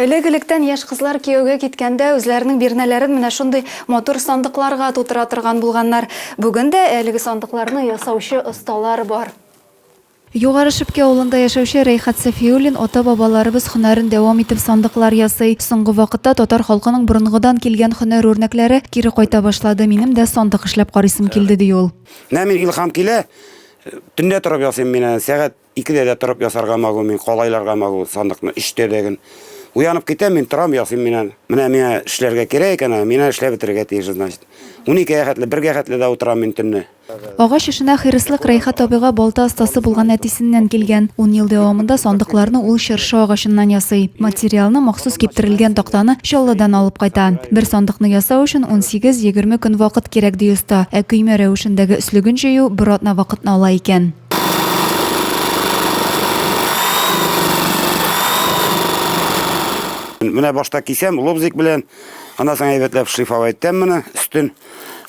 Элек-электән яшь кызлар кияүгә киткәндә үзләренең бирнәләрен менә шундый матур сандыкларга тутыра торган булганнар. Бүген дә әлеге сандыкларны ясаучы осталар бар. Югары Шепки авылында яшәүче Рәйхәт Сафиуллин ата-бабаларыбыз һөнәрен дәвам итеп сандыклар ясый. Соңгы вакытта татар халкының борынгыдан килгән һөнәр үрнәкләре кире кайта башлады. Минем дә сандык эшләп карыйсым килде, ди ул. Менә мин илһам килә, төнлә торып ясыйм мин аны, сәгать Икедә дә торып ясарга могу мин, калайларга могу сандыкны, өчтә дә ген. Уянып китәм мин, торам, ясыйм мин аны. Менә миңа эшләргә кирәк икән аны, мин аны эшләп бетерергә тиеш, значит. Уникегә хәтле, бергә хәтле дә утырам мин төнне. Агач эшенә хирыслык Рәйхәт абыйга балта остасы булган әтисеннән килгән. Ун ел дәвамында сандыкларны ул чыршы агачыннан ясый. Материалны, махсус киптерелгән тактаны, Чаллыдан алып кайта. Бер сандыкны ясау өчен унсигез-егерме көн вакыт кирәк, ди оста. Ә көймә рәвешендәге өслеген җыю бер атна вакытны ала икән. Менә башта кисәм, лобзик белән, ана соң әйбәтләп шлифовать итәм моны, өстен.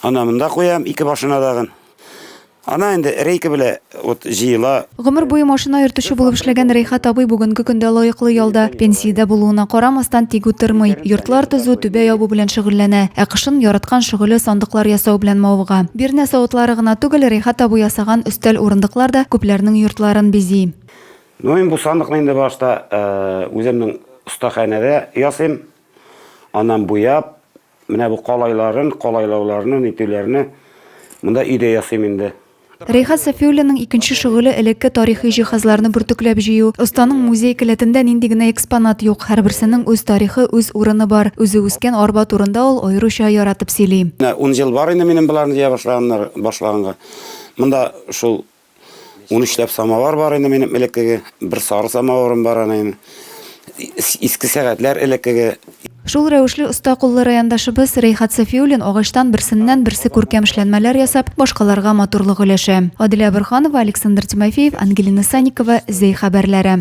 Ана монда куям, ике башына дагын. Ана инде рейка белән вот җыела. Гомер буе машина йөртүче булып эшләгән Рәйхат абый бүгенге көндә лаеклы ялда, пенсиядә булуына карамастан тик утырмый. Йортлар төзү, түбә ябу белән шөгыльләнә. Ә кышын яраткан шөгыле сандыклар ясау белән мавыга. Бирнә савытлары гына түгел, Рәйхат абый урнаштырган өстәл урындыклар да күпләрнең йортларын бизи. Ну мин бу сандыкны инде башта үземнең остаханәдә ясыйм. Аннан буяп, менә бу калайларын, калайлауларны, нитүләрне монда өйдә ясыйм инде. Рәйхәт Сафиуллинның икенче шөгыле элекке тарихи җиһазларны бөртекләп җыю. Останың музей келәтендә нинди генә экспонат юк, һәрберсенең үз тарихы, үз урыны бар. Үзе үскән арба турында ул аеруча яратып сөйли. Менә ун ел бар инде минем боларны җыя башлаганнар, башлаганга. Монда шул 13 ләп самовар бар инде минем элеккеге, бер сары самоварым бар аны инде. Иске сәгатьләр элеккеге. Шул рәвешле оста куллы райондашыбыз Рәйхат Сафиуллин агачтан берсеннән-берсе күркәм эшләнмәләр ясап, башкаларга матурлык өләшә. Аделя Борһанова, Александр Тимофеев, Ангелина Санникова, Зәй хәбәрләре.